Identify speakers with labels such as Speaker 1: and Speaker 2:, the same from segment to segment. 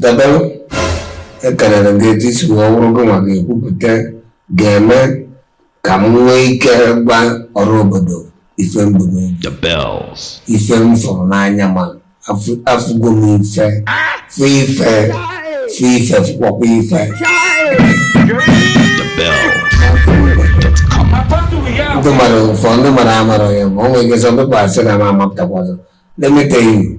Speaker 1: The Bell ekenere m gị etu i si wee wụrụ gị nwa ga-ekwupụta ga-eme ka m nwee ike gwa ọra obodo ife m bu n'obi The bells. ife m fụrụ n'anya ma afụ- afụgo m ife fụ ife fụ ife fụkwakwa ife The bells. ndị mmadụ ụfọ ndị mmadụ amarọ ya ma o nwere ike some people asị na m amapụtakwa ọzọ na-emetaghị m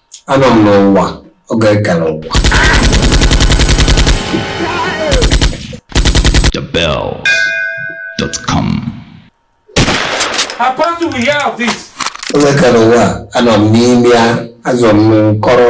Speaker 1: Anọ m n'ụwa oge ka n'ụwa. TheBell.com. How fast do we hear of this? Oge ka n'ụwa anọ m n'ime ya azọ m n'ụkọrọ.